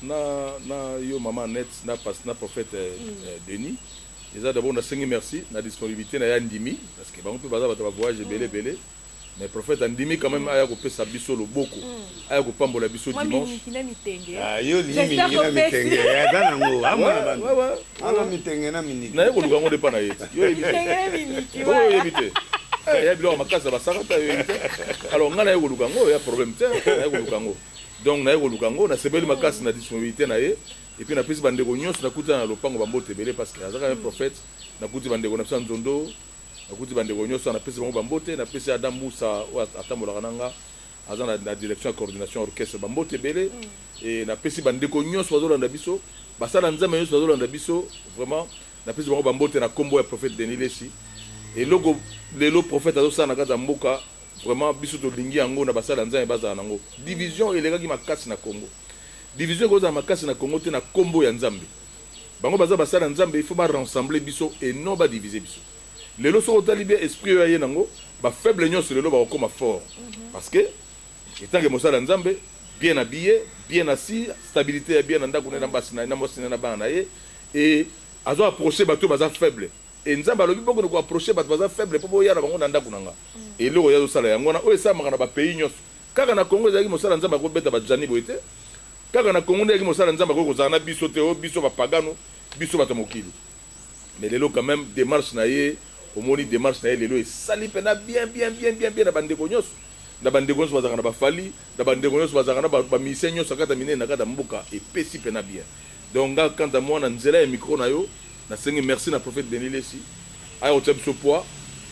na, na yo mama net na, na prophète eh, mm. eh, denis eza dabord nasengi merci na disponibilité na ye andimi parce que bango mpe baza bato bavoyage ebele mm. ebele mais prophète andimi quand même mm. aya kopesa biso loboko mm. aya kopambola biso dimanche ah, yo lingi mingi na mitenge aza nango amona bango Ana mitenge na miniki. Na ye koluka ngo depa na ye. Yo yebi te. Mitenge na miniki. Yo yebi te. Eh, ya biloko makasi ya basaka ta yo yebi te. Alors nga na ye koluka ngo ya problème te. Na ye koluka ngo. Donc na ye koluka ngo na sebeli makasi na disponibilité na ye. Et puis na pesi bandeko nyonso nakuta na lopango bambote ebele parce que azaka un prophète. Nakuti bandeko na biso ya nzondo. Nakuti bandeko nyonso napesi bango bambote. Napesi Adam Musa oyo atambolaka na nga. aza na direction ya coordination orchestre ba mbote ebele et na pesi ba ndeko nyonso bazolanda biso basala nzambe nyonso bazolanda biso vraiment na pesi bango ba mbote na kombo ya prophète Denis Lessi eloko lelo prophète azosala na kati ya mboka vraiment biso tolingi yango na basala nzambe bazala nango division elekaki makasi na Congo division ekozala makasi na Congo te na kombo ya nzambe bango baza basala nzambe il faut ba rassembler biso et non ba diviser biso Lelo soki otali bien esprit oyo aye nango ba faible nionso lelo bakokoma fort parce que etant que mosali ya nzambe bien habille bien assis stabilite ya bien na ndaku naye na basi naye na mwasi naye na bana naye et azo approcher batu oyo baza faible et nzambe alobi bokende ko approcher batu baza faible po boya na bango na ndaku nanga eloko ye azosala yango wana oyo esalamaka na ba pays nionso kaka na congo ezalaki mosala nzambe akobeta ba jani boye te kaka na congo nde ezalaki mosala nzambe akoki kozala na biso te o oh, biso bapagano biso bato ya mokili Mais lelo quand meme demarche na ye omoni demarche na ye lelo esali pena bien bien bien bien bien na ba ndeko nionso na ba ndeko nionso bazalaka na ba Fally na ba ndeko nionso bazalaka na ba musiciens nionso kaka ata minene na kati ya mboka epesi pena bien donc nga quant à moi na nzela ya micro na yo na sengi merci na prophète Denis Lessi aya kotia biso poids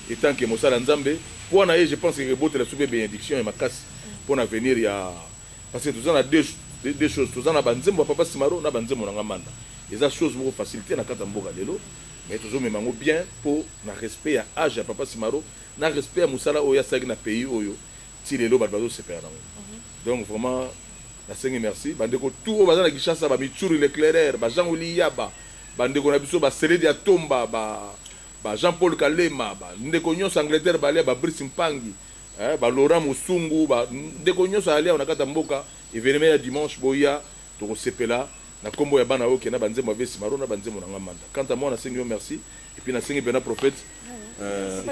etant que mosali ya Nzambe poids na ye je pense que ekebotela biso pe benediction ya makasi pona avenir ya parce que toza na deux deux choses toza na ba nzembo ya papa Simaro na ba nzembo na nga Manda Eza chose moko facile te na kati ya mboka lelo mais tozo mema yango bien po na respect ya age ya papa Simaro na respect ya musala oyo asalaki na pays oyo ti lelo bato bazo sepela nango mhm. donc vraiment nasengi merci bandeko tout oyo baza na Kinshasa ba Mitsuri Leclerc ba Jean Oli Yaba bandeko na biso ba Seledi ya Tomba ba ba Jean Paul Kalema ba ndeko nyonso Angleterre balia ba Brice Mpangi eh, ba Laurent Musungu ba ndeko nyonso alia na kati ya mboka evenement ya dimanche boya Toko sepela na kombo ya bana oke na ba nzembo ya vesi maro na ba nzembo na nga manda quant à moi na sengi yo merci et puis na sengi pena prophète euh,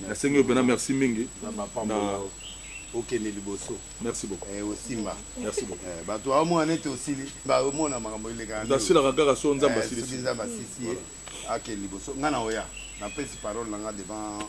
na sengi yo pena merci mingi na okende liboso merci beaucoup eh, osimba merci beaucoup eh, bato baomona nete osili baomona makambo elekandasilaka kaka so nzambe eh, asilisi nzambe asisi ye akende liboso ngai na oya napesi parole na ngai devant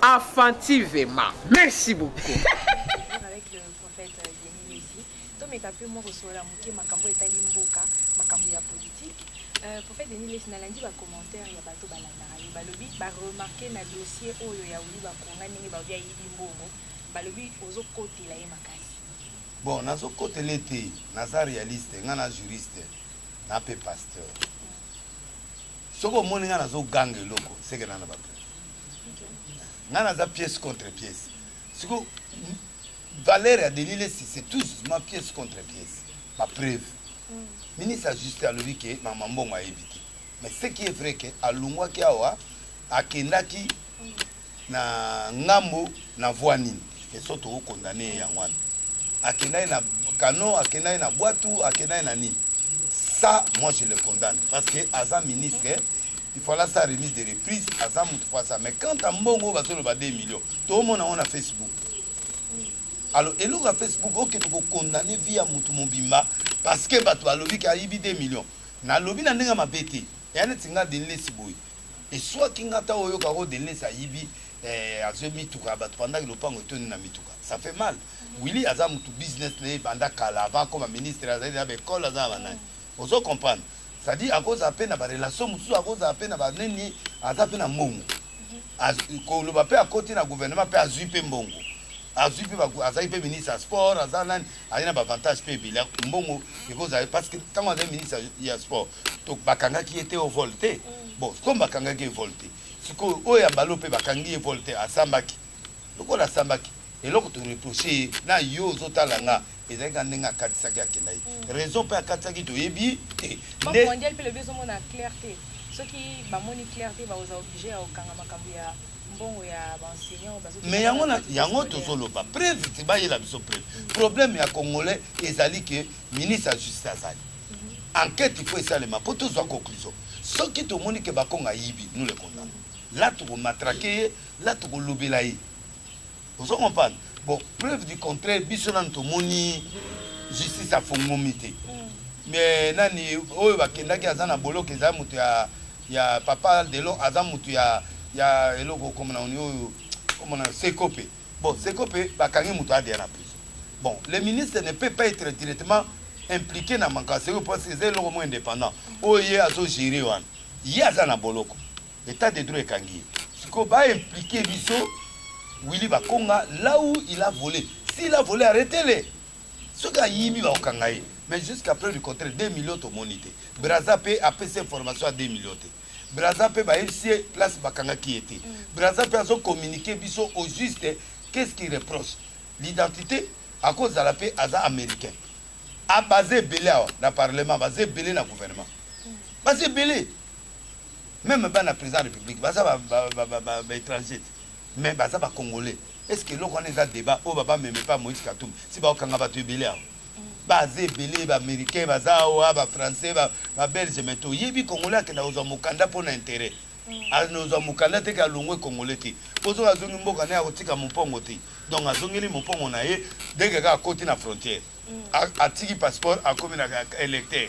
Afantivema. Merci beaucoup. tomeka mpe mwa kosolola moke makambo etali mboka makambo ya politike Euh, prophète denis lesi nalandi bacommentaire ya bato balandaka ye balobi baremarke na dossier oyo ya wili bakonga ndenge balobi ayibi mbongo balobi ozokotela ye makasi bon nazokotela ye te naza réaliste ngai na juriste na mpe pasteur soki omoni ngai nazoganga eloko seke nana bape nga naza pièce contre pièce siko valeur ya denis lesi c'est tout justement pièce contre pièce bapreuve mm. ministre ya justice alobi ke mama mbongo ayebi te mais ce qui est vrai ke alongwaki awa akendaki mm. na ngambo na voi nini eso tokokondane ye yango wana akendaki na kano akendaki na bwatu akendaki na nini ça moi je le condamne parce que aza ministre mm. il faut la sa remise de reprise aza mutu fois ça mais quant à mbongo bazoloba 2 millions tomona yango na facebook alors eloko ya facebook oke tokokondane vie ya mutu mobimba parce que bato balobi ke ayibi 2 millions nalobi na ndenge mabe te eya neti nga denlesi boye eswaki nga ta oyoka ko denlesi ayibi eh, azwi mituka ya bato pandaki lopango etondi na mituka ça fait mal willi aza mutu business na ye banda kala avant akoma ministre azali na baekole aza na banani ozo comprendre c'est à dire akozala mpe na barelation mosusu akozala mpe na banini aza mpe na mbongo koloba mpe akoti na gouvernement mpe azwi mpe mbongo azwi mpe azali mpe ministre ya sport aza nani azali na bavantage mpe ebele mbongo ekozala parce que ntango azali ministre ya sport bakangaki ye te o vol te mm. bon comme bakangaki ye vol te sikoyo oyo ya balo mpe bakangi ye vol te asambaki lokola asambaki eloko to reproche ye na yo ozotala nga ezalaki na ndenge akatisaki akenda ye mm. raison mpe akatisaki toyebi te mondial mpe lobi ezomona clair te soki bamoni clair te baoza oblige ya kokanga makambo ya mbongo ya baenseignant mais yango yango tozoloba preuve te bayela biso preuve mm. problème ya congolais ezali ke ministre ya justice azali mm-hmm. enquête il faut esalema mpo tozwa conclusion soki tomoni ke bakonga ayibi nous le condamne la tokomatrake ye Là toko lobela ye. Ozo comprendre? Bon, preuve du contraire biso nanu tomoni justice afongomi te. Mais nani oyo bakendaki aza na boloko eza moto ya ya papa Delon aza moto ya ya eloko comme na oyo comme na Sekope. Bon, Sekope bakangi moto adeya na prison. Bon, le ministre ne peut pas être directement impliqué na makambo ya Sekope parce que eza eloko moko indépendant. Oyo ye azo gérer wana. Ye aza na boloko. Etat de droit ekangi ye. Siko ba impliquer biso Willy Bakonga là où il a volé. S'il a volé arrêtez-le. Soki ayibi bakokanga ye. Mais jusqu'à preuve du contraire 2 millions tomoni te. Brazza pe apesi information ya 2 millions te. Brazza pe bayebisi ye place bakangaki ye te. Brazza pe azo communiquer biso au juste qu'est-ce qu'il reproche. L'identité akozala pe aza américain. A base ebele awa na parlement, baza ebele na gouvernement. Baza ebele. meme bana président république baza baétranger te mais baza bacongolais est ce que eloko wana eza débat oyo babameme mpe moïse katumbi si baokanga bato ebele awa baza ebele baaméricain baza awa bafrançais babelge mais toyebi congolais akenda kozwa mokanda mpo na intérêt anozwa mokanda teke alongwe congolais te ozoka azongi mboka naye akotika mopongo te donc azongeli mopongo na ye deke kaka akoti na frontière atiki passeport akomi na électeur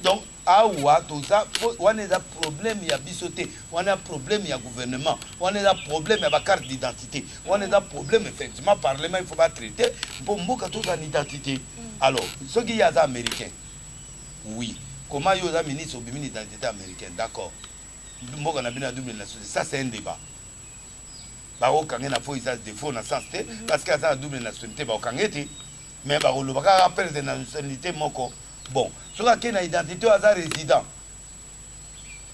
donc Awa toza po wana eza problème ya biso te wana problème ya gouvernement wana eza problème ya ba carte d'identité wana eza problème effectivement parlement il faut ba traiter mpo mboka tozala na identité alors soki ye aza américain oui comment yo oza ministre obimi na identité américaine d'accord mboka na bino ya double nationalité ça c'est un débat bakokange na fo eza défaut na sens te parce que aza na double nationalité bakokange te mais bakoloba kaka apelete na nationalite moko bon soki ake na identité oyo aza résident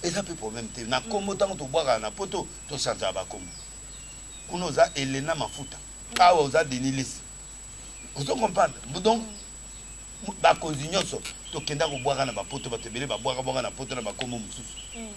eza mpe problème te na nkombo ntango tobwakaka na poto tochangeaka bakombo kuna oza elena mafuta awa oza denis lesi ozo comprendre donc bakonzi nyonso tokenda kobwaka na bapoto bato ebele babwaka bwaka na poto na bakombo mosusu mm.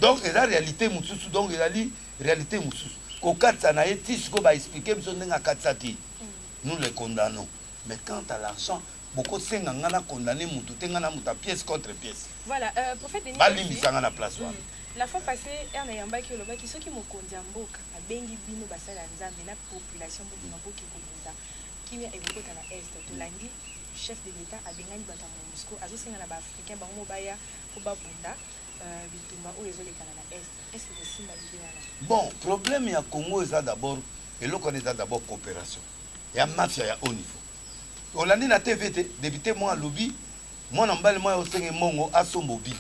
donc eza réalité mosusu donc ezali réalité mosusu kokatisa na ye ti sikoyo baexplike biso ndenge akatisaki mm. nous le condamnons mais quant à l'argent boko senga nga na condamne mutu te nga na muta pièce contre pièce Voilà, euh, prophète Denis ba limbisa nga na place wana. Mm. La fois passée, ère na yambaki olobaki soki mokonzi ya mboka abengi bino basali ya Nzambe na population mboka na boki kobunda kimia ekokota na est tolandi chef de l'etat abengani bato ya monusco azosenga na baafricain bango baya mpo babunda Bon problème ya Congo eza d'abord eloko wana eza d'abord coopération ya mafia ya haut niveau olandi na tv te député mwa alobi mwana mobali mwa osenge mbongo asomba obi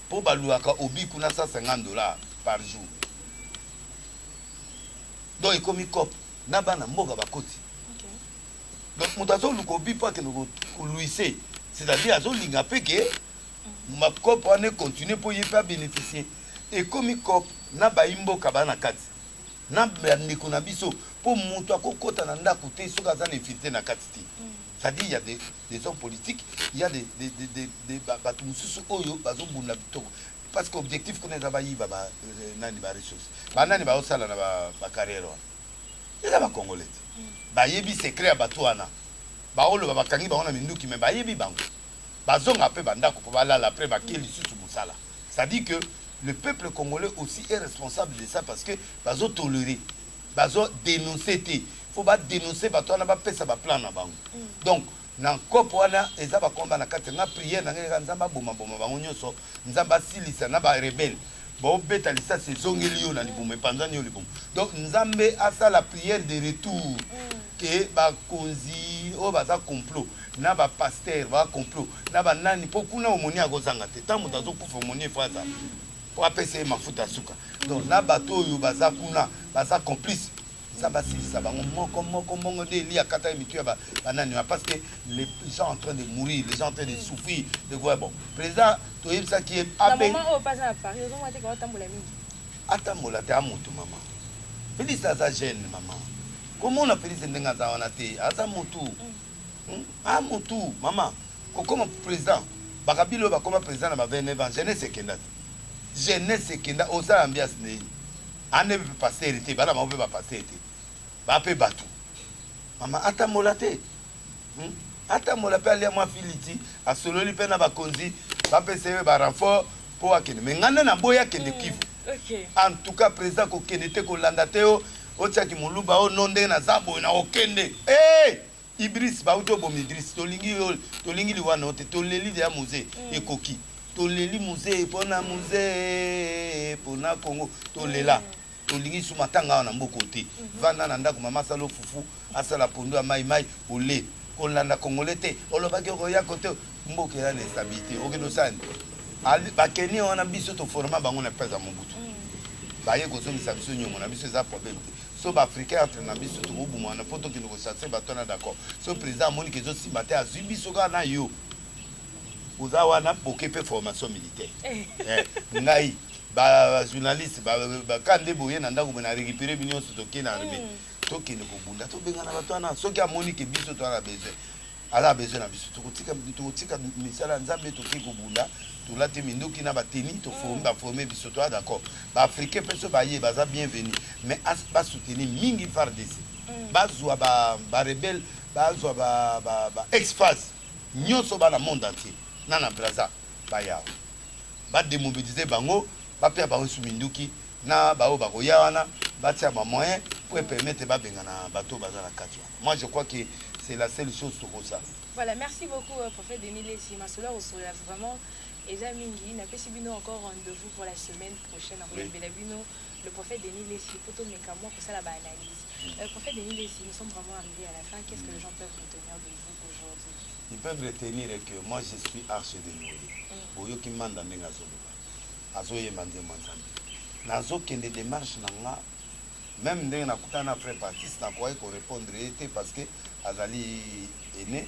mpo baluaka obi kuna 150 dollars par jour donc ekomi cope na bana mboka bakoti donc moto azoluka obi mpo akende koluise c'est-à-dire azolinga mpe ke mapkop wana econtinue mpo ye mpe abeneficie ekomi cop na bayi mboka baa na kati na bandeko na biso mpo moto akokɔta na ndako te soki aza na infiltre na kati te c'est-à-dire ya des, des hommes politiques ya des, des, des, des, des, bato mosusu oyo bazobunda bitoko parce que objectif kuna eza bayiba ba, euh, nani baressource banani baosala na bacarrière wana eza bacongolais te bayebi secret ya bato wana baoloba bakangi bango na minduki me bayebi bango bazonga pe ba ndaku po balala apres bake lisusu musala c'est à dire que le peuple congolais aussi est responsable de ça parce que bazo tolere bazo denonce te faut ba denonce batu wana ba pesa ba plan na bango donc na coop wana eza ba combat na kati nga prière na nga eza nzambe aboma boma bango nioso nzambe asilisa na ba rebelle baobeta lisasi ezongeli yo na libumu epanzani yo libumu donc nzambe asala prière de retour mm. ke bakonzi oyo baza complot na bapaster ba complot na banani mpo kuna omoni akozanga te ntango moto azokufa omoni efo aza mpo apesa ye mafuta ya suka donc na bato oyo baza kuna baza complice Nzambe asilisa bango moko moko mongo nde Elie akataki mitu ya banani ba parce que les gens en train de mourir les gens en train de souffrir de quoi bon président toyebisaki ye abe atambola te amutu mama Félix aza jeune mama komona Félix ndenge aza wana te aza mutu mm. hmm? amutu mama kokoma président bakabila oyo bakoma président na ba 29 ans jeunesse ekenda te jeunesse ekenda osala ambiance nini Ande pe pasteur te bana bango pe ba pasteur te ba pe batu mama atambola te hmm? atambola pe alia mwa filiti asololi pe na bakonzi bapesa ye ba renfort po akende me ngai nde naboya akende hmm, kivu okay. en tout cas président kokende te kolanda te yo otiaki moluba o no ndenge naza boye na okende hey! Eh! Idriss ba uti oboma Idriss tolingi yo tolingi liwa na yo te toleli deja Muzee mm. ekoki toleli Muzee pona Muzee pona Congo tolela mm. tolingi su matanga awa na mboka te mhm. vanda na ndako mama asala ofufu asala pondu ya mai mai ole kolanda congolais te olobaki okoya kote mboka eza na estabilité okende osani bakeni wana biso toforma bango na place ya mobutu mm. baye kozongisa biso nyongo na biso eza problème te soki ba africain entre na biso tokobumana mpo tokende kosatisfai bato wana d'accord soki président amoni ke ezosimba te azwi biso kaka na yo oza wana boke mpe formation militaire eh. Eh, ngai bajournaliste baka nde boye na ndako boye na récupéré bino nyonso tokei na armée hmm. tokende kobunda tobengana bato wana soki amoni ke biso toza na besoin Aza besoin na biso tokotika tokotika misala nzambe toke kobunda tolati minduki na bateni toforme mm. baforme biso toa d'accord baafricain mpe so baye baza bienvenu mais basoutenir mingi fardc mm. bazwa barebele bazwa baexphase nyonso bana monde entier na na braza bayawa bademobilize bango bapea bango su minduki na baoyo bakoya wana batia bamoyen mpo epermete babengana bato baza na kati wana Moi je crois que c'est la seule chose tokosala. Voilà, merci beaucoup euh, prophète Denis Lessi. Masolo ya kosolola vraiment eza mingi. Napesi bino encore rendez-vous pour la semaine prochaine. Nakoyambela bino le prophète Denis Lessi mpo tomeka mwa kosala baanalyse. Euh, prophète Denis Lessi, nous sommes vraiment arrivés à la fin. Qu'est-ce que les gens peuvent retenir de vous aujourd'hui Ils peuvent retenir que moi je suis arche de Noé. Mm. Oyoki manda ndenge azoloba. Azoyemba nzembo ya Nzambe. Nazokende démarche na nga meme ndenge na kutana na frère Baptiste na kokaki ko repondre ye te parce que azali aine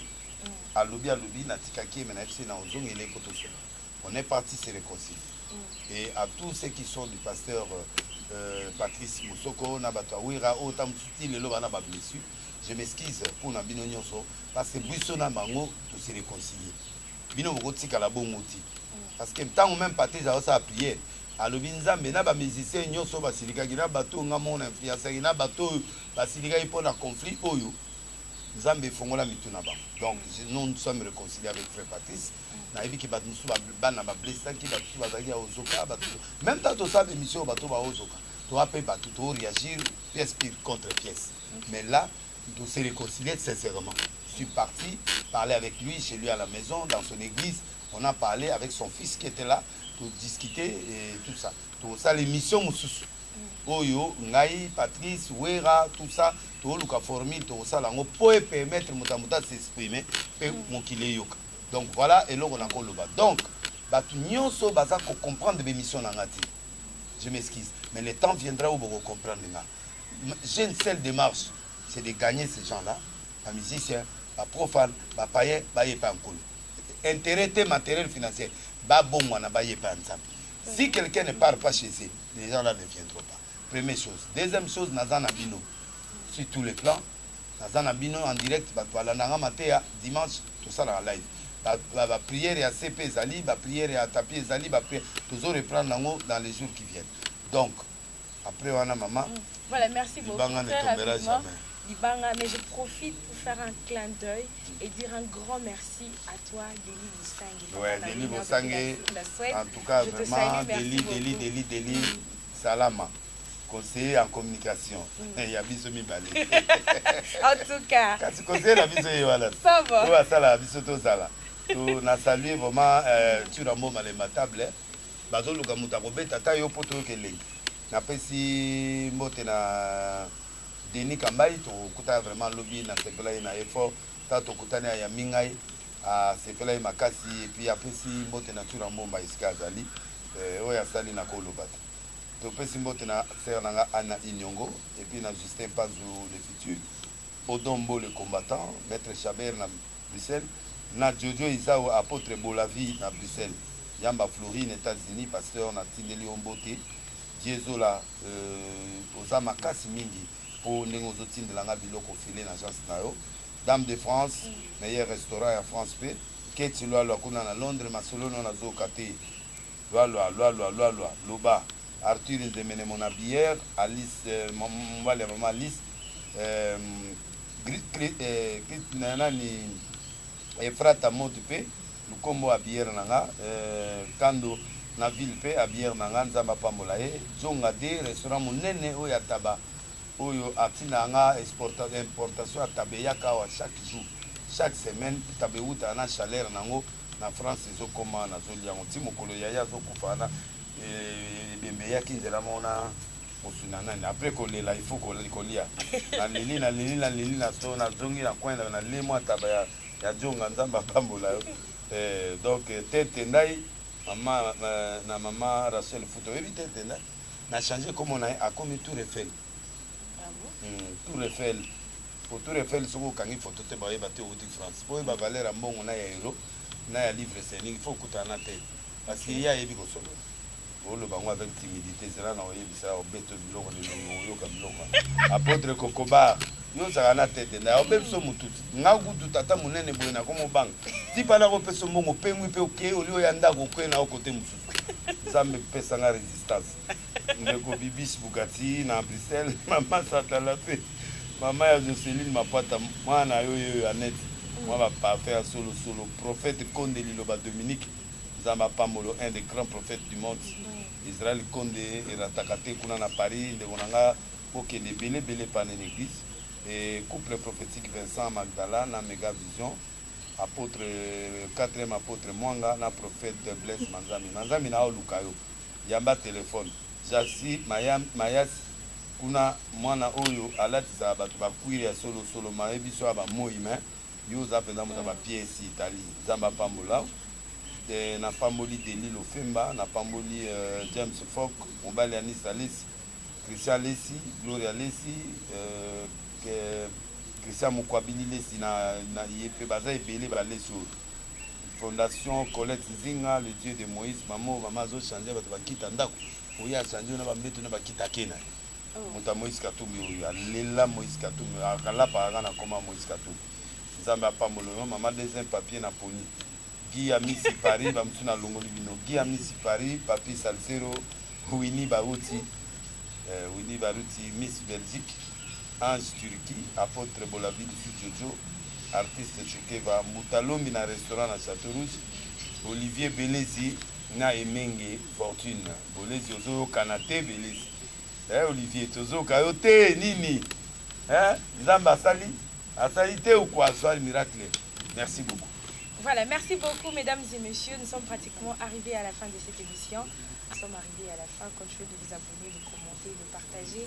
alobi alobi na tikaki ye mais na biso na ozongeli ye po tosolola on est parti se reconcilier et à tous ceux qui sont du pasteur euh, Patrice Mosoko na bato ya Wira oyo ta mosusu ti lelo bana ba blessure je m'excuse mpo na bino nyonso parce que biso na bango to se reconcilier bino bokotikala bongo ti parce que ntango meme patrice aosala priere alobi nzambe na bamusicien nyonso oyo basilikaki na bato oyo ngai moko na influencaki na bato oyo basilikaki mpo na conflit oyo nzambe efongola mitu na bango donc nous sommes réconcilie avec frère patrice nayebi ke bato mosusu bana bablessaki bato mosusu bazalaki ya ozoka bato meme ntango tosala bemission oyo bato baozoka toa mpe bato toreagir pièce pire contre pièce mais là On s'est réconcilié sincèrement. Je suis parti parler avec lui chez lui à la maison, dans son église. On a parlé avec son fils qui était là pour discuter et tout ça. Donc ça l'émission Moussousou. oyo ngai patrice wera tout ça toluka formule tokosala yango mpo epermettre moto ya moto asexprime mpe mm. mokili eyoka donc voilà eloko nakoloba donc bato nyonso baza kocomprendre bémission na nga te je m'excuse mais le temps viendra oyo bokocomprendre nga j'ai une seule démarche c'est de gagner ces gens là ba musiciens ba profane ba païen ba ye pa nkolo intérêt te matériel financier ba bongwana ba ye pa nzambe si quelqu'un ne part pas chez eux les gens là ne viendront pas première chose deuxième chose naza na bino sur tous les plans naza na bino en direct bato balandanga mateya dimanche tosalaka live baprière ya cp ezali baprière ya tapi ezali tozo reprendre yango dans les jours qui viennent donc après wana mama voilà merci beaucoup libanga ne tombera jamais libanga mais je profite pour faire un clin d'œil et dire un grand merci à toi Deli Bosangue ouais Deli Bosangue en tout cas je vraiment Deli Deli Deli Deli salama conseiller en communication mm. ya biso mibale en tout cas kasi conseiller na biso ye wana oyo asalaka biso tozala na salue vraiment euh, tu rambo malema table Bazo luka mutu ako beta ata yo po toyoka elengi. Na pesi mbote na Denis Kambayi to kutana vraiment lobi na sepela ye na ye fort. Tango to kutani a yambi ngai a sepela ye makasi et puis a pesi mbote na Tshoura Mbomba esika azali. Eh oyo asali na ko loba te. To pesi mbote na sœur na nga Anna Inyongo et puis na Justin Panzu le futur. Odon Mbo le combattant, Maitre Chabert na Bruxelles na Jojo Izao Apotre Bola Vie na Bruxelles Yamba Florie na Etats Unis Pasteur na tindeli yo mbote Vieux Zola euh oza makasi mingi po ndenge ozo tindela nga biloko ofele na agence na yo Dame de France meilleur restaurant ya France pe Kate Lualua kuna na Londres Masolo no nazo yoka te Lualua lualua lualua loba Arthur nzemene mon habilleur Alice mobali ya maman Alice Grit na nani Efrata mode pe lukombo habilleur na nga Kando na ville pe habilleur na nga Nzambe apambola ye Djonga de restaurant monene oyo ya taba oyo atindaka nga importation ya taba eyaka awa chaque jour chaque semaine taba ewutaka na chaleur na ngo na France ezo koma na zoli yango ti mokolo yaya azo kufa wana ebembe eyaki nzela moko na kosuna nani après kolela il faut kolia na leli na leli na leli na so na zongi na coin na lemo ataba ya ya jonga nzambe apambola yo eh, donc eh, tete ndai mama na mama Rachel Futo oyebi tete ndai na change komona ye akomi tour Eiffel Hmm, tour Eiffel po tour Eiffel soki okangi photo te bayeba te outi France po oyeba valeur ya mbongo na ya euro na ya livre sterling il faut okutana na te parce que ye ayebi kosolola oloba yango avec timidité zela na oyebisa obeto biloko lelo oyoka biloko apotre kokobar yo ozalaka na tete na obe biso motuti nga kutu tata monene boye nakomobanga tipa nakopesa mbongo opengwi mpe okei olio ya ndako okei na yo kote mosusu nzambe pesa nga resistance Ndeko Bibiche Bukati na Bruxelles, Mama Satala mpe Mama ya Joceline Mapata, mwana na yo yeyo Annette, mwa ba parfum ya solo solo, Prophète Konde Liloba Dominique, Nzambe apambolo, un des grands prophètes du monde, Israël Konde erataka te kuna na Paris, ndeko na nga bokende ebele ebele epa na eglise, et couple prophetique Vincent Magdala na Mega Vision, Apotre, quatrième Apotre Mwanga na Prophète Blaise Manzambi, Manzambi na oluka yo. yamba telephone jassy mayas kuna mwana oyo alatisaka batu ba cuire ya solo solo maye biso awa ba moyi mais yo oza penza mutu ya ba pied esi etali nzambe apambola eh, na pamboli deli lofemba na pamboli euh, james fok mobali ya nisa lesi christian lesi gloria lesi euh, christian mokwabili lesi na, na ye mpe baza ebele balesi oyo Fondation colette zinga le dieu de moise mamo mama azo change bato bakita ndako oye achange yo na bambeto na bakita ake na ye moto ya moise katumbi oyo alela moise katumbi akalapaka nga na koma moise katumbi nzambe apambolo yo mama deuxième papier na poni gi ya misi paris bamosusu nalongoli bino gi ya misi paris papi salsero wini baruti eh, wini baruti miss belgique Ange Turki, Apotre Bolavi Dusu Jojo, Artiste Chokeva, Mbuta Lombi na Restaurant na Chateau Rouge, Olivier Belezi na Emenge Fortune. Bolezi ozo yokana te Belezi eh Olivier tozo yoka yo te nini eh Nzambe asali asali te ou quoi soit miracle merci beaucoup. Voilà, merci beaucoup mesdames et messieurs. Nous sommes pratiquement arrivés à la fin de cette émission. Nous sommes arrivés à la fin. Continuez de vous abonner, de commenter, de partager.